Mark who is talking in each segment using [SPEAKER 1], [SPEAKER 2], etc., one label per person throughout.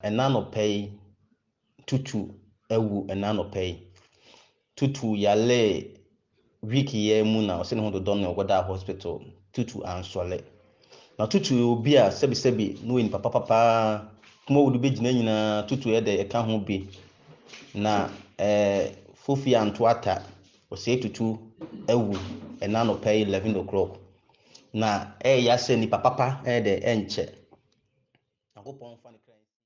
[SPEAKER 1] Nnanɔpɛ yi Tutu awu nnanɔpɛ yi Tutu yalee week yi ara mu na ɔse ne ho dodɔ no na ɔkɔdaa hospital Tutu ansɔle Na Tutu yɛ obi a sɛbi sɛbi na ɔyɛ nipa papa paa Kuma wode bɛgyina nyinaa Tutu yɛ dɛ ɛka ho bi Na eh Fofie anto ata Ɔse Tutu awu nnanɔpɛ yi 11 o'clock Na ɛyɛ ya sɛ nipa papa ɛyɛ dɛ ɛnkyɛ. Nyankopɔn mfa ne kra nsi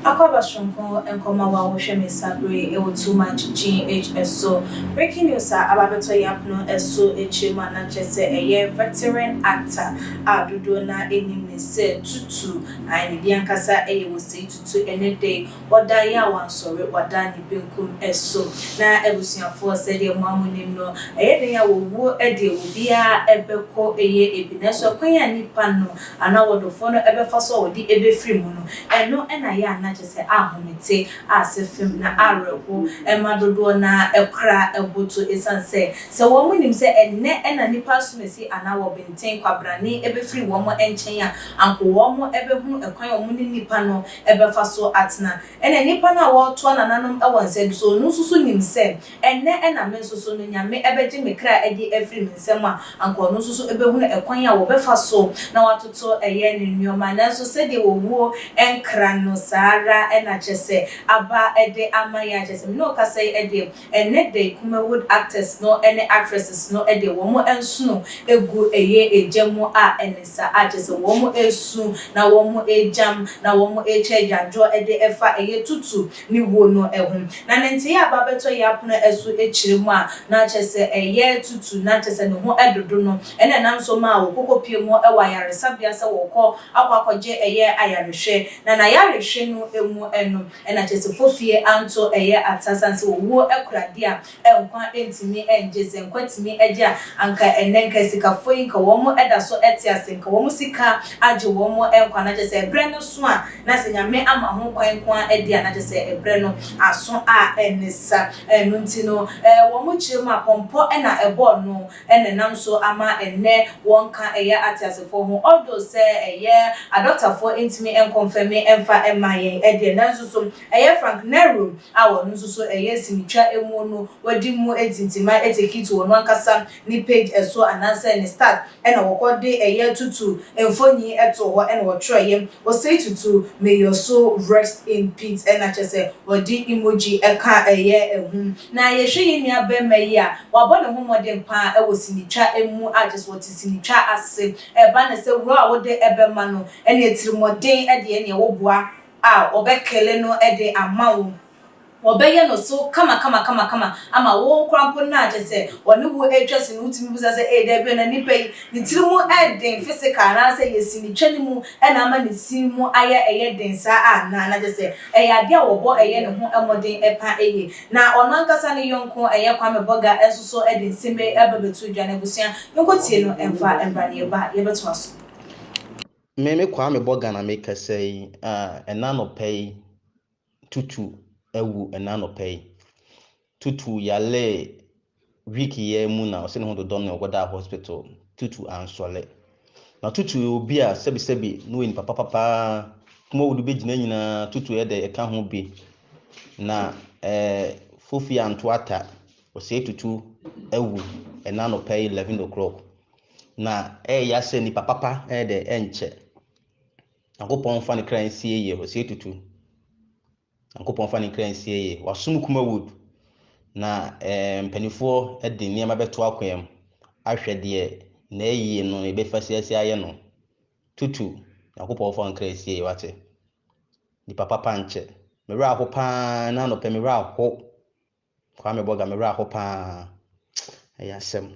[SPEAKER 2] Akwaba soronko nkɔmɔ wa wo hwɛ me sa bere ɛwɔ too much GH ɛso breaking news a aba bɛtɔ yɛ apono ɛso akyire mu a na kyɛ sɛ ɛyɛ veteran actor a dodoɔ na ɛnim ne sɛ tutu ayi ne deɛ ankasa ɛyɛ wɔ sei tutu ɛnɛ dɛ Ɔda yi a wansɔre wada ne benkum so. Na abusuafoɔ sɛdeɛ mo a mo nim no, ɛyɛ dɛn a wɔwuo deɛ obiara bɛkɔ yɛ bi, nanso ɛkwan a nnipa no anaa wɔdɔfoɔ no bɛfa so a wɔde bɛfiri mu no, ɛno na yɛ a na kyerɛ sɛ ahomete, ase fem na awerɛho ma dodoɔ no ara kora boto ɛsiane sɛ, sɛ wɔn nim sɛ ɛnnɛ na nnipa asumasi anaa wɔbenten kwabrane bɛfiri wɔn nkyɛn a, anko wɔn bɛhunu ɛkwan a wɔne nnipa no bɛfa so atena. Ɛnna nnipa no a wɔretoa nananom wɔ nsa bi so no nso so nim sɛ, Ɛnnɛ na me nso so no Nyame bɛgye me kra adi afiri me nsam a, anka ɔno nso so bɛhunu ɛkwan a wɔbɛfa so na wɔatoto yɛn nneɛma. Nanso sɛdeɛ owuo nkra no, saa ara na kyerɛ sɛ, aba de ama yɛn a, kyerɛ sɛ, me ne wo kasa yi deɛ, Ɛnnɛ de Kumawood actors no ne actresses no de wɔn nsono gu ɛyɛ egya mu a ɛne sa a kyerɛ sɛ wɔn resu na wɔn regyam na wɔn rekyɛ agyaadwoɔ de ɛfa ɛyɛ tutu ne wuo no ho. Na ne ntee a ba bɛtɔ yɛ apono ɛso kyerɛ mu a na kyerɛ sɛ ɛyɛ tutu na kyerɛ sɛ ne ho dodo no na ɛnam nso maa wɔkɔkɔ pie mu wɔ ayaresabea sɛ wɔkɔ akɔ akɔgye ɛyɛ ayarehwɛ na nayarehwɛ no mu no Ɛna Kyesefo fie anto ɛyɛ ata sane sɛ owuo kura deɛ a nkwa ntumi ngye sɛ nkwa tumi gye a anka ɛnnɛ nka sikafo yi nka wɔn daso te ase nka wɔn sika agye wɔn nkwa na kyɛ sɛ ɛbrɛ no so a na sɛ Nyame ama ho kwan nko ara deɛ a na kyɛ sɛ ɛbrɛ no aso a ɛne sa ɛno nti no wɔn kyerɛ mu a pɔmpɔ na ɛbɔɔ no na ɛnam so ama ɛnnɛ wɔn nka ɛyɛ ateasefoɔ ho although sɛ ɛyɛ adɔktafoɔ ntumi nkɔnfɛme mfa mma yɛn deɛ nanso so ɛyɛ Frank Nerum a ɔno nso so ɛyɛ sinitwa mu no wadi mu tintima etikit wɔ no ankasa ne page ɛso anaasɛ ne start ɛna wɔkɔ de ɛyɛ tutu mfoni ɛto hɔ ɛna wɔtwerɛeɛ Osei Tutu may your soul rest in peace ɛna kyerɛ sɛ wɔde emoji ɛka ɛyɛ ɛho Na yɛhwɛ yɛn nua barima yi a, wabɔ ne ho mmɔden pa ara wɔ sinitwa mu a kyerɛ sɛ ɔte sinitwa ase. Ɛba no sɛ wura a wode bɛma no ne atirimɔden deɛ ɛneɛ wo boa a ɔbɛ kele no de ama wo. Ɔbɛyɛ no so kama kama kama kama ama wo koraa mpo no a kyerɛ sɛ ɔne wo ɛretwa sini no wotumi bisa sɛ ee dabi o na nipa yi ne tiri mu ɛden physical anaasɛ ɛyɛ sinitwa no mu na ama ne sini mu ayɛ ɛyɛ den saa anaa na kyerɛ sɛ Ɛyɛ ade a wɔbɔ yɛ ne ho mmɔden pa ye. Na ɔno ankasa ne yɔnko ɛyɛ Kwame Bɔga nso so de nsem ei ba bɛto dwa no abusua nkɔ tie no mfa mbra ne yɛba a yɛbɛtoa so. Me
[SPEAKER 1] me Kwame Bɔga na me kasa yi ah ɛna nɔpɛ yi Tutu awu ɛna nɔpɛ yi. Tutu yaree week yiaa mu na ɔse ne ho dodɔ no na ɔkɔdaa hospital. Tutu annsɔle. Na Tutu yɛ obi a sɛbisɛbi na ɔyɛ nipa papa paa. Kum a wɔde bɛgyina nyinaa Tutu yɛ dɛ ɛka ho bi. Na eh Fofi anto ata. Ɔse Tutu awu ɛna anɔpa yi 11 o'clock. Na ɛyɛ ya sɛ nipa papa ɛyɛ dɛ ɛnkyɛ. Nyankopɔn nfa ne kra nsie yie. Ɔse Tutu. Nyankopɔn mfa ne nkra nsie yɛ. Wasom kuma wood na eh mpaninfoɔ de nneɛma bɛto akoam ahwɛ deɛ n'ayie no yɛbɛfa siasia ayɛ no. Tutu, Nyankopɔn mfa wo nkra nsie yɛ wate. Nipa papa nkyɛ. Me werɛ aho paa, ɛna anɔpɛ me werɛ aho. Kwame Boga me werɛ aho paa ɛyɛ asɛm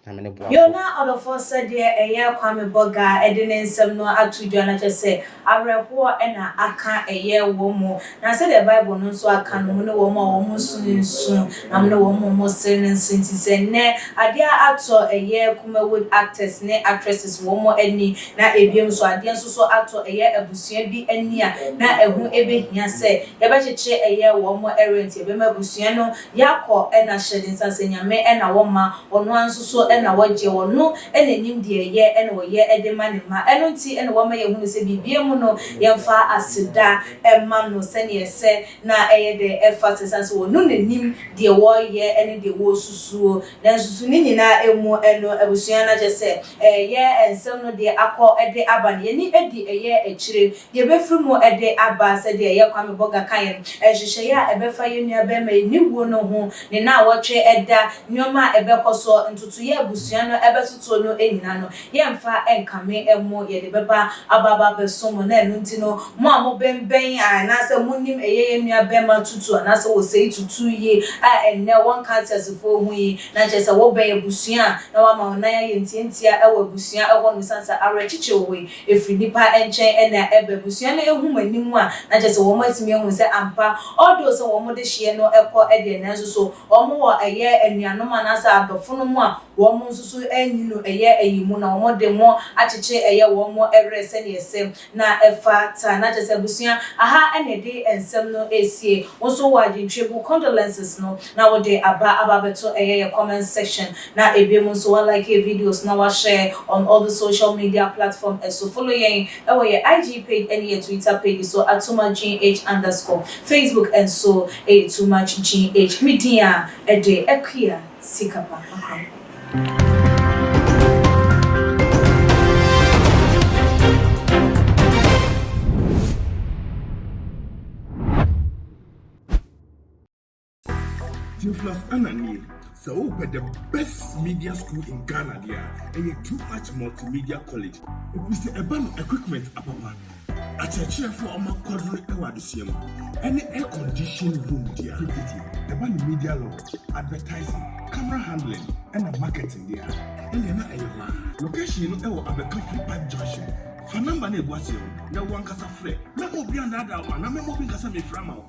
[SPEAKER 1] Nyame ne boafo. Yoo na ɔdɔfoɔ sɛdeɛ
[SPEAKER 2] ɛyɛ Kwame Boga de ne nsɛm no ato dwa no akyerɛ sɛ awerɛhoɔ na aka ɛyɛ wɔ mo na sɛdeɛ bible no nso aka no mo ne wɔn a wɔn nso no nsu na mo ne wɔn a wɔn sere no nso nti sɛ nnɛ adeɛ atɔ ɛyɛ Kumawood actors ne actresses wɔn ani Na bio nso, adeɛ nso so atɔ ɛyɛ abusua bi ani a na ɛho bɛhia sɛ yɛbɛkyekyere ɛyɛ wɔn rent, yɛbɛma abusua no Yakob na hyɛ ne nsa sɛ Nyame na wɔma, ɔno ara nso so na wɔgye, ɔno na nim deɛ ɛyɛ na ɔyɛ de ma ne mma, ɛno nti na wama yɛhunu sɛ biribiara mu no yɛmfa aseda mma no sɛdeɛ ɛsɛ na ɛyɛ dɛ ɛfa sɛ, ɛsiane sɛ ɔno na nim deɛ wɔreyɛ ne deɛ wɔresusuo Nanso so ne nyinaa ɛmu ɛno abusua no akyɛ sɛ ɛyɛ nsɛm no deɛ akɔ de aba no yɛni ɛdi ɛyɛ akyire deɛ ɛbɛfiri mu de aba sɛdeɛ ɛyɛ Kwame Bogah kaeɛ no nhyehyɛeɛ a ɛbɛfa yɛn nua barima yi ne wuo no ho ne naawɔtwe ɛda nnoɔma a ɛbɛkɔ soɔ ntotoeɛ a abusua no ɛbɛtotoɔ no nyina no Yɛmfa nkame mo yɛde bɛba aba aba abɛsom mo na ɛno nti no mo a mo bɛn bɛn a anaasɛ mo nim ɛyɛ yɛn nua bɛma tutu anaasɛ wɔ sɛi tutu yi a ɛnnɛ wɔ nka ateasefoɔ ho yi na kyerɛ sɛ wɔ bɛn abusua a na wama wo nan ayɛ ntia ntia ɛwɔ abusua ɛhɔ nom ɛsiane sɛ awerɛkyekye wɔ yi ɛfiri nnipa nkyɛn ɛna ɛba abusua no ɛhu mo anim a na kyerɛ sɛ wɔ mo atumi ahu sɛ ampa although sɛ wɔ mo de hyeɛ no ɛkɔ ɛdeɛ nanso so wɔ mo wɔ ɛyɛ anuanom anaasɛ adɔfonom a Wɔn nso so anwunu ɛyɛ ayi mu na wɔn de mo akyekye ɛyɛ wɔn werɛ sɛdeɛ ɛsɛ na ɛfa ta. Na kyerɛ sɛ abusua aha na ɛde nsɛm no ɛresie. Wo nso wɔ adwentwebu, condolences, no na wo de aba aba abɛto ɛyɛ yɛ comment section na ɛbie mu nso wa like yɛ videos na wa share on all the social media platform ɛso. Follow yɛn ɛwɔ yɛ IG page ɛne yɛ Twitter page so at TooMuchGH underscore. Facebook nso ɛyɛ Too Much GH. Me din a ɛde Akua.
[SPEAKER 3] sika pa Theophilus Anna nie, sɛ wopɛ the best media school in Ghana deɛ a, ɛyɛ Too Much Multimedia College, ɛfiri sɛ ɛba no equipment apapa. Akyerɛkyerɛfo a wɔn akwaduru wɔ adesua mu, ne air conditioned room di a tututu ɛba no media launch, advertising, camera handling na marketing de a, ɛnneɛ na ɛyɛ hɔ ara. Location no wɔ Abeka Free Park Junction. Fa number no a ɛgu aseɛ no na wo ankasa frɛ. Mɛma obi annaadaa wo anaa mɛma obi nka sɛ merefrɛ ama wo.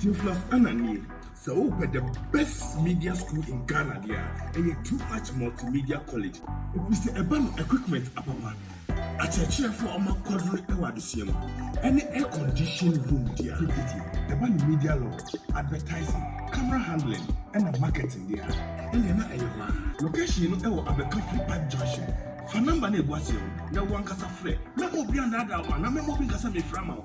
[SPEAKER 3] Theophilus Annan nie. Sɛ wopɛ the best media school in Ghana deɛ a, ɛyɛ Too Much Multimedia College. Ɛfiri sɛ ɛba no equipment apapa, akyerɛkyerɛfoɔ a wɔakwadwene wɔ adesua mu, ɛne air conditioned room deɛ a tititi. Ɛba no media law, advertising, camera handling ɛna marketing deɛ a, ɛnneɛ na ɛyɛ hɔ ara. Location no ɛwɔ Abɛka Free Park Junction. Fa number no a ɛgu aseɛ no na wo ankasa frɛ. Mɛma obi annaadaa wo anaa mɛma obi nka sɛ mefrɛ ama wo.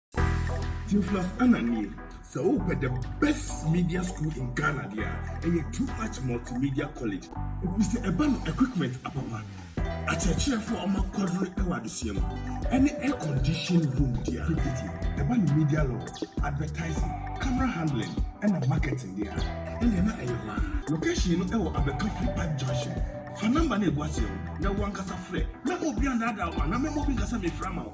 [SPEAKER 3] Theophilus Annan nie, sɛ wopɛ the best media school in Ghana deɛ a, ɛyɛ Too Much Multimedia College. Ɛfiri sɛ ɛba no equipment apapa, akyerɛkyerɛfoɔ a wɔakwadrone wɔ adesua mu, ɛne air conditioned room deɛ a tititi. Ɛba no media law, advertising, camera handling ɛna marketing deɛ a, ɛnneɛ na ɛyɛ hɔ ara. Location no ɛwɔ Abɛka Free Park Junction. Fa number no a ɛgu aseɛ no na wo ankasa frɛ. Mɛma obi annaadaa wo anaa mɛma obi nka sɛ mefrɛ ama wo.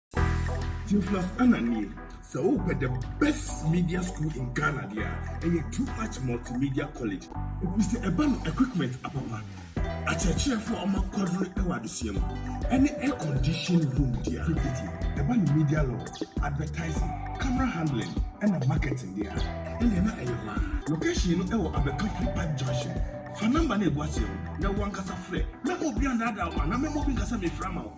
[SPEAKER 3] Theophilus Annan nie. Sɛ wopɛ the best media school in Ghana deɛ a, ɛyɛ Too Much Multimedia College. Ɛfiri sɛ ɛba no equipment apapa, akyerɛkyerɛfoɔ a wɔakwadwene wɔ adesua mu, ɛne air conditioned room deɛ a tititi. Ɛba no media law, advertising, camera handling ɛna marketing deɛ a, ɛnneɛ na ɛyɛ hɔ ara. Location no ɛwɔ Abɛka Free Park Junction. Fa number no a ɛgu aseɛ no na wo ankasa frɛ. Mɛma obi annaadaa wo anaa mɛma obi nka sɛ mefrɛ ama wo.